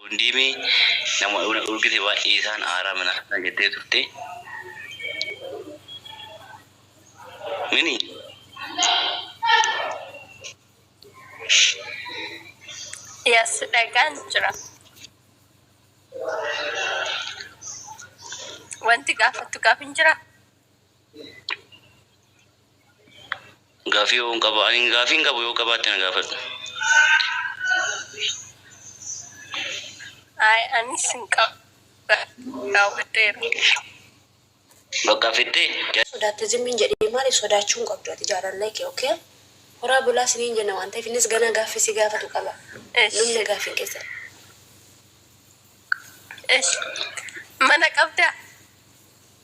Wondiimi nama na d'orgite waan isaan aaraa mana kana jette turte. Mini. Yes, dhagaan jira. Wanti gaafattu gaafin jiraa? Gaafii yoon qaba ani gaafiin qabu yoo qabaatte na gaafadhu. Ay anis hin qabu. Raawwadheera. Bakka fittee jala. Sodaatte zimmi hin jedhiin maaliif sodaachuu hin qabdu ati jaalallee kee ok horaa bulaa siniin jenna waan ta'eef innis ganaa gaaffii si gaafatu qaba Esh. dhumne gaaffiin keessan Esh. Mana qabdaa?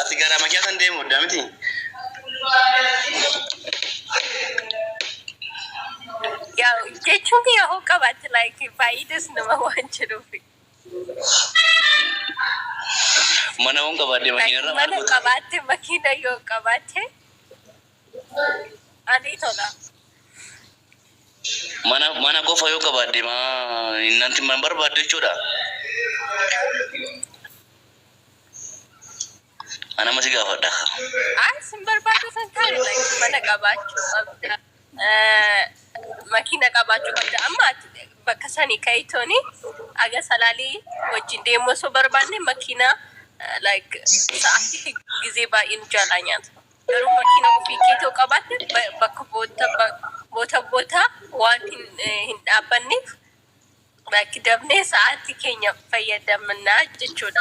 Ati gara makiyaa san deemu odda miti. Yaa jechuun kiyya hoo qabaatti like faayidas nama waan jedhuuf. Mana hoon qabaadde Like makiinarra maal mana goota? qabaatte makiina yoo qabaatte ani tola. Mana mana qofa yoo qabaadde maa innanti man barbaadde jechuudha. Ana masi gaafadha ka. Ay sin barbaadu san kaale like mana qabaachuu qabda. Eh, Makiina qabaachuu qabda. Amma ati bakka sanii ka'itooni aga salaalii wajjin deemuu osoo barbaanne makiina eh, like sa'aatii gizee baay'ee nu jaalaa nyaata. Garuu makiina ofii keetoo qabaatte ba- bakka boota ba- boota boota waan hin, eh, hin dhaabbanneef Rakkidamnee sa'aatii keenya fayyadamna jechuudha.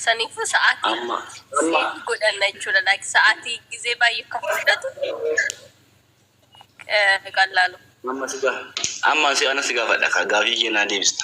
Saniifuu sa'aatii Amma seetii godhanna jechuudha. Like sa'aatii gizee baay'ee kan fudhatu eh, qallaalu. amma si gaaf amma si ana si gaafadha ka gaafii kee naa deebista.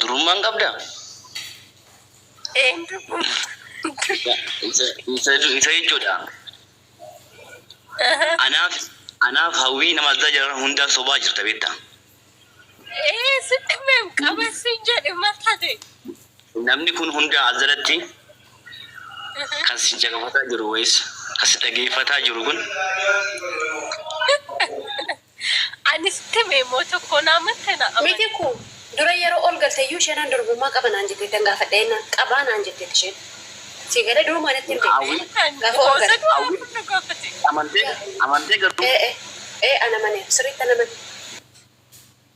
Durummaa hin qabdaa? Een durummaa. Isa jechuudha. Anaaf anaaf hawwii nama addaa jira hundaa sobaa jirta beektaa. Ee sitti meem qaban siin jedhe mal tate? Namni kun hundaa as jalatti kan si caqafataa jiru wayis kan si dhageeffataa jiru kun Ani sitti hime immoo tokkoo na amatte na amani. Mitiku, dura yeroo ol galte iyyuu isheen an durbummaa qaba naan jetteettan gaafadhe jennaan qabaa naan jetteetti isheen. Sii galee durumaa natti himte. Hawwiin. Kan Gaafa ol boosa galte. du'a Hawwiin. kun nu gaafate. Amantee? Amantee garuu? Ee ee ee an amaneera sirriittan amane.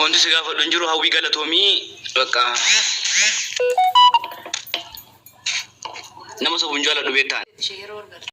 Wanti si gaafadhu hin jiru hawwii galatoomii bakka nama sobuun jaaladhu beektaan. Ishee yeroo ol galtu.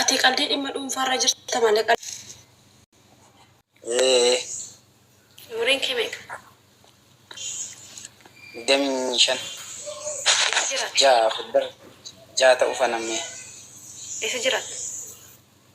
Ati qaldii dhimma dhuunfaarra jirta malee qaldii. Ee. Umuriin kee meeqa? Digdamii shan. Eessa jiraata? Ja'a fuuldura ja'a ta'uu fana mee. Eessa jiraata?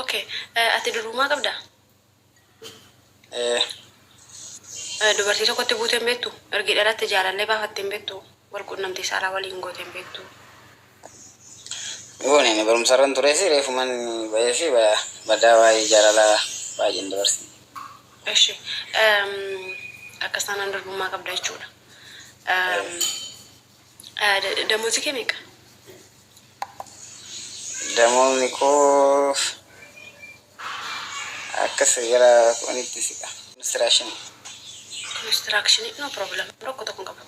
Ok ati duruumaa qabdaa? Ee. Dubartii tokkotti buutee hin beektu? Ergi dhalatte jaalallee baafattee hin beektu? Wal qunnamtii saalaa waliin gootee hin beektu? Goone ani barumsarran turee fi reefuman bahee fi badaa waa'ee jaalalaa baay'ee hin dabarsiin. Eshi akkas taanaan durbummaa qabda jechuudha. Damozi kee meeqa? Damozni koo akka seera kunitti siqa. Construction. Construction no problem rakko tokko hin qabu.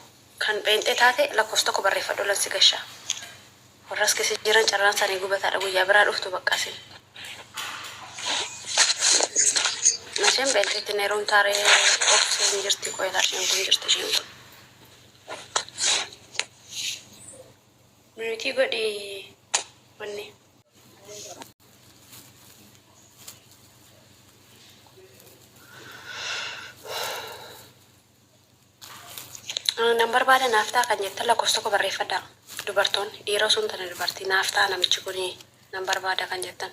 Kan pheenxee taate lakkoofsa tokko barreeffadhu lan si gasha. Warra as keessa jiran carraan isaanii gubataadha guyyaa biraa dhuftu bakka isin. Masheen pheenxeetti neeruun taaree of hin jirti qoyilaa isheen kun jirti isheen kun. Mute godhi wanni. Ah, Nan barbaada naaf ta'a kan jettan lakkoofsa tokko barreeffadhaa. Dubartoonni dhiira osoo hin taane dubartii naaf ta'a namichi kun nan barbaada kan jettan.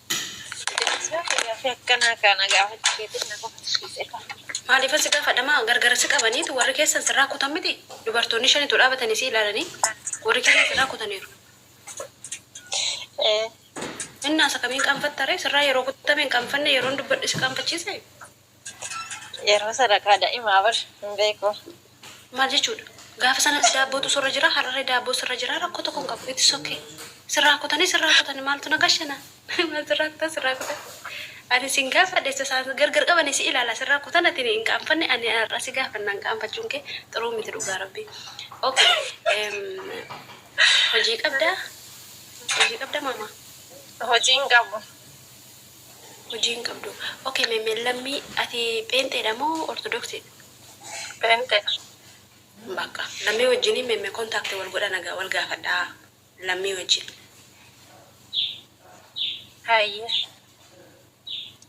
Sibilisee kiyya fi akkanaa kaana gaafachuu keetiin na kofalchiise kaa. Maaliif asi gaafadha maa gargar si qabaniitu warri keessan sirraa kutan miti dubartoonni shan utuu dhaabatanii si ilaalanii warri keessan sirraa kutaniiru. Ee. Innaas akkamiin qaanfatta ree sirraa yeroo kutame hin qaanfanne yeroon dubbadhu si qaanfachiise? Yeroo sadaqaa da'imaa bar hin beeku. Maal jechuudha? Gaafa sanatti daabbootu sirra jira, har'aree daabboo sirra jira rakkoo tokko hin qabu. It's ok. Sirraa kutanii sirraa kutani maaltu na gashana? Maal sirraa kutan sirraa kutan. Ani sin gaafadhe isa isaan gargar qabanii si ilaala sirraa kutan ati hin qaanfanne ani har'a si gaafanna hin qaanfachuun kee xuruu miti dhugaa rabbii. Ok. Hojii qabdaa? Hojii qabda maamaa? Hojii hin qabu. hojii hin qabdu. Ok me Mellammii ati pheenxeedha moo ortodoksidha? Pheenxeedha. Baqqa lammii wajjini me me contact wal godha nagaa wal gaafadha lammii wajjin. Hayyee.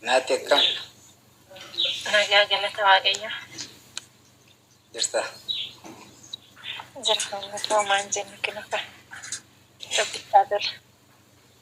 Naatti akkam? Nagaa galata waaqayyoo. Jirta? Jirra uummata hoomaa hin jennu kinoka. Rabbi haa tolu.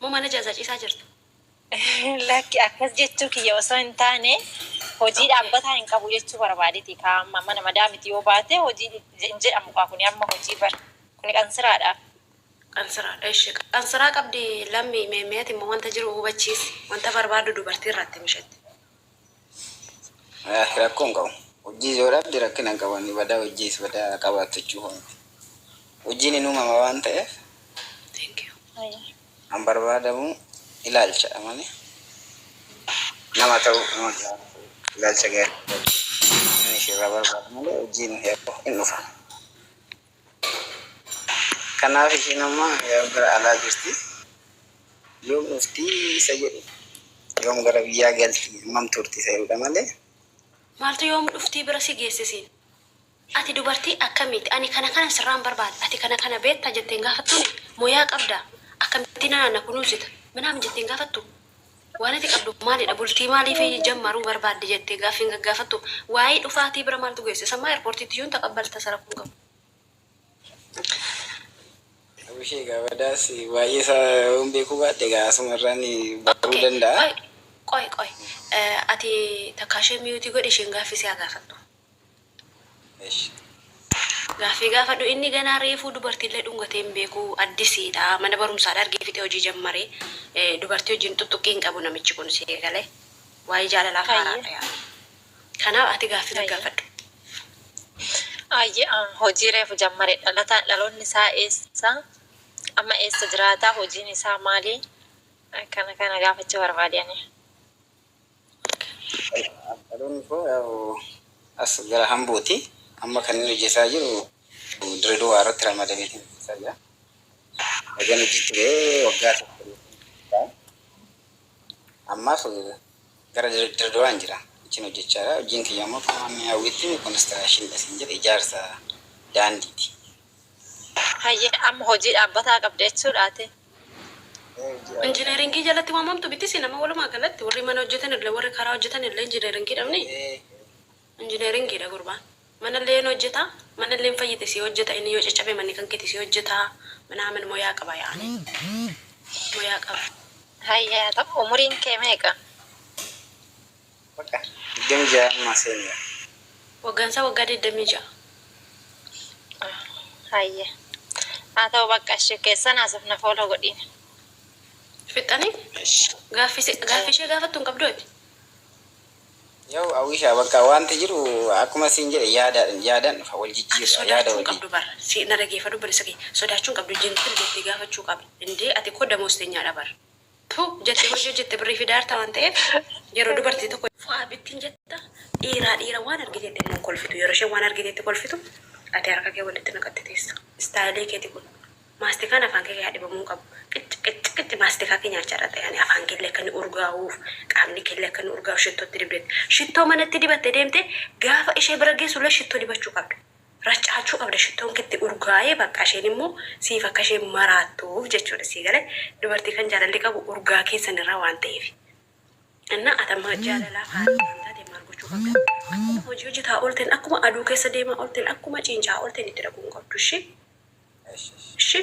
Mo mana jaza cisaa jirta. Lakki akkas jechuu kiyya osoo hin taane hojii dhaabbataa hin qabu jechuu barbaadeti kaa amma mana madaamiti yoo baate hojii hin jedhamu kaa kuni amma hojii bar kuni qansiraadha. Qansiraadha eshi qansiraa qabdi lammi me me ati immoo wanta jiru hubachiisi wanta barbaaddu dubartii irraa itti mishetti. Walahi rakko hin qabu hojjis yoo dhabde rakkina hin qabu badaa hojjis badaa qabaattu jechuu koo miti hojjin hin uumama waan ta'eef kan barbaadamu ilaalcha dha malee nama ta'uu nama jiraachuu ilaalcha gaarii qabaachuu inni ishiirraa barbaadu malee hojjin hin dhufa. Kanaaf ishiin amma yoom gara alaa jirti, yoom dhufti isa jedhu, yoom gara biyyaa galti, hammam turti isa jedhudha malee. Maaltu yoom dhufti bira si geesse siin? Ati dubartii akkamiiti? Ani kana kanan sirraa hin barbaada. Ati kana kana beektaa jettee hin gaafattuuni? Moyaa qabdaa? Akkamittiin anaan na kunuunsita? Minaamin jettee hin gaafattuu? Waan ati qabdu maalidha? Bultii maaliif jammaruu barbaadde jettee gaaffii hin gaggaafattu? Waayii dhufaa tii bira maaltu geesse? Sammaa airportiitti iyyuu hin taqabbalta isa rakkoo hin qabu. Abushee egaa badaas baay'ee isaa yoo hin beekuu baadhe egaa asuma irraan baruu Okay. danda'a. Qoy, qoy, qoy. Eh, ati takkaa ishee miyuutii godhi isheen gaaffii si haa gaafattu. Eshi. Gaaffii gaafadhu inni ganaa reefuu dubartiillee dhungatee hin beeku addisiidha mana barumsaadha argee fixee hojii jammare dubartii wajjin xuxxuqqii hin qabu namichi kun sii galee waa'ee jaalalaaf haaraadha yaani kanaaf ati gaaffii gaggaafadhu. Ayyee an hojii reefu jammare dhalataan dhaloonni isaa eessa amma eessa jiraata hojiin isaa maali kana kana gaafachuu barbaade ani. Dhaloonni koo as gara Hambooti. Amma kan inni hojjetaa jiru Dirreedawaa irratti ramadamee kan hojjetaa jira. Ergan hojiitti ba'ee waggaa tokko ta'eera. Ammaaf gara Dirreedawaan jira. Achiin hojjechaa jira. Hojiin kiyya immoo akkuma hawwiitti konistiraakshinii dha siin jedhe ijaarsa daandiiti. Hayyee amma hojii dhaabbataa qabda jechuudha ati? Injineeringii jalatti waamamtu miti isin amma walumaa galatti warri mana hojjetan illee warri karaa hojjetan illee injineeringiidha mni? Injineeringiidha gurbaan. Mana illee ni hojjeta mana illee hin fayyite sii hojjeta inni yoo caccabe manni kan keeti sii hojjeta minaamin moyaa qaba yaani moyaa qaba. Hayyee haa ta'u umuriin kee meeqa? Waggaa 26 ammaa senior. Waggaan isaa waggaa 26. Ah hayye haa ta'u baqqa ishi keessan haasofna follow godhiin. Fixxanii? Eshi. Gaaffii si- gaaffii ishee gaafattu hin qabdu ati? Yaa'u Awisha bakka wanti jiru akkuma siin jedhe yaadaadhan yaadaan dhufa wal Ati jijjiirra yaada sodaachuu hin waliin. qabdu bar. Si na dhageeffadhu bar isa kee. Sodaachuu hin qabdu jentil jettee gaafachuu qabda. Indee ati koo damoostenyaadha bar. Tu jette hojii hojjette birrii fidaa jirta waan ta'eef yeroo dubartii tokko. Fo'aa bittiin jetta dhiiraa dhiira waan argiteetti immoo hin kolfitu yeroo isheen waan argiteetti kolfitu ati harka kee walitti naqatte teessa istaayilii keeti kun maastikaan afaan kee hadhibamuu hin qabu qicci qicci qicci maastikaa kee nyaachaa irra ta'e ani afaan keellee akka inni urgaa'uuf qaamni keellee akka inni urgaa'uuf shittootti dibdeetti shittoo manatti dibatte deemte gaafa ishee bira geessullee shittoo dibachuu qabda racaachuu qabda shittoon ketti urgaa'ee baqqa isheen immoo siif akka isheen maraattuuf jechuudha sii gale dubartii kan jaalalli qabu urgaa keessan irraa waan ta'eef innaa ati amma jaalalaa faana waan taate maal gochuu qabda akkuma hojii hojjetaa oolteen akkuma aduu keessa deemaa oolteen akkuma ciinca'aa oolteen itti dhaquu hin qabdu ishee Ishi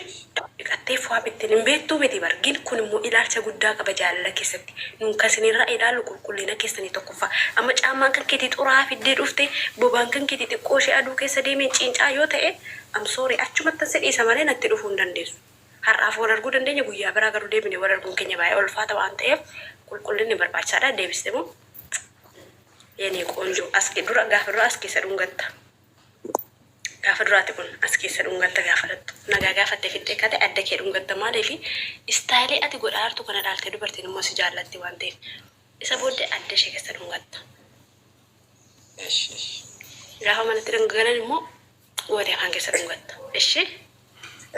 dhiqattee fwaa bittin hin beettuu miti bar gin kun immoo ilaalcha guddaa qaba jaalala keessatti nun kan sinirraa ilaallu qulqullina keessani tokkoffaa amma caammaan kan keetii xuraa'a fiddee dhufte bobaan kan keetii xiqqoo ishee aduu keessa deemeen ciincaa yoo ta'e am sorry achumattan si dhiisa malee natti dhufuu hin dandeessu har'aaf wal arguu dandeenya guyyaa biraa garuu deebinee wal arguun keenya baay'ee ulfaata waan ta'eef qulqullinni barbaachisaadha deebiste moo yene qoonjoo as dura gaafa dura as keessa dhungatta. Gaafa dura ati buna as keessa dhungatta gaafa dhaqxu nagaa gaafattee fixxee kate adda kee dhungatta maaliifi istaayilii ati godhaartu kana ilaaltee dubartiin immoo si jaallatti waan ta'eef isa booddee adda ishee keessa dhungatta gaafa manatti galan immoo gootee afaan keessa dhungatta ishee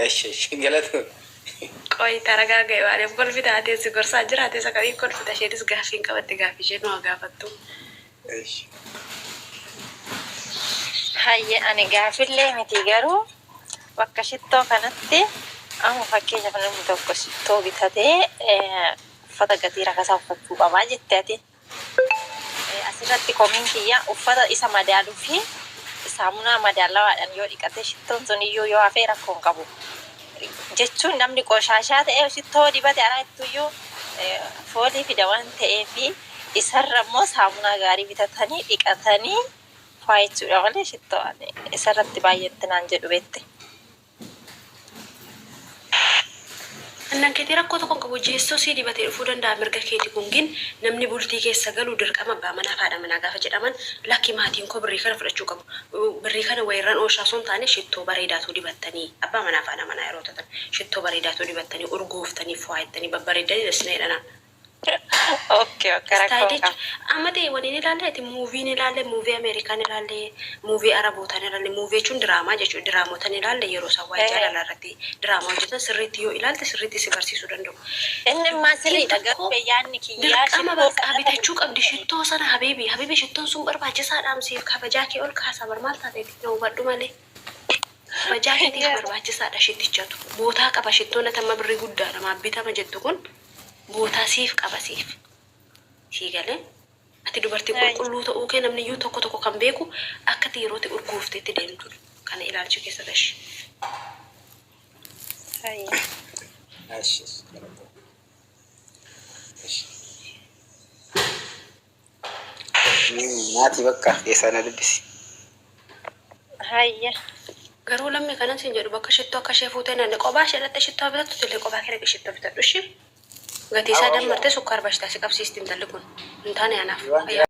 Esh esh galatu. Qoy taragaaga ibaadeen bolfi taatee si gorsaa jiraate isa kamiin kolfita isheenis gaaffiin qabatti gaaffii ishee nu haa gaafattu. Esh. Hayye ani gaafillee miti garuu bakka shittoo kanatti amma fakkeenyaaf namni tokko shittoo bitatee uffata gatii rakasaa uffachuu qabaa jette ati. Asirratti komiin kiyya uffata isa madaaluu fi saamunaa madaalawaadhaan yoo dhiqate shittoon sun iyyuu yoo hafee rakkoo hin qabu. Jechuun namni qoshaashaa ta'ee shittoo dibate alaa ittuyyuu foolii fida waan ta'eef isarra immoo saamunaa gaarii bitatanii dhiqatanii faayachuudha malee shittoo isarratti baay'ee itti naan jedhu beekte. Annan ketii rakkoo tokkon qabu jeessoo sii dibatee dhufuu danda'a mirga keeti kun gin namni bultii keessa galu dirqama abbaa manaa fi haadha manaa gaafa jedhaman lakki maatiin koo birrii kana fudhachuu qabu birrii kana wayirran ooshaa osoo hin taane shittoo bareedaa tuu dibattanii abbaa manaa fi haadha manaa yeroo tatan shittoo bareedaa tuu dibattanii urgooftanii fuwaayettanii babbareeddanii na sina jedhanaa Okay okay rakkoon Istaayilichi qaba. amma ta'e waliin ilaalle ati muuvii ni ilaalle muuvii Ameerikaa ni ilaalle muuvii Arabootaa ni ilaalle muuvii jechuun diraamaa jechuudha diraamota ni ilaalle yeroo isaan waa'ee Ee. jaalalaa irratti diraamaa hojjetan sirriitti yoo ilaalte sirriitti si barsiisuu danda'u. Inni immaa Dubartiin sirriidha tokko garuu bee yaanni kiyyaa dirqama shittoo bakka sana bitachuu qabdi fudhachuu shittoo sana habiibi habiibi shittoon sun barbaachisaadhaam siif kabajaa kee ol kaasa bar maal taateeti na hubadhu malee kabajaa keetiif barbaachisaadha shittichatu bootaa qaba shittoon ati amma birrii guddaadha maaf bitama jettu kun Gootaa siif qaba siif. Sii galee? Ati dubartii Right. qulqulluu ta'uu kee namni iyyuu tokko tokko kan beeku akka ati yeroo ati urgoofte itti deemtudha. Kana ilaalcha keessa gashi. Hayyee. Ashi. Ashi. Nyaati bakka keessaa na dubbisi. Hayye. Garuu lammii kanan siin jedhu bakka shittoo akka ishee fuutee naan qophaa ishee dhattee shittoo haa bitattu illee qophaa kee dhaqii shittoo bitadhu ishee. Gatii isaa dammartee sukkaar bashtaa si qabsiisti intalli kun. Hin taane anaaf. Ayyaana.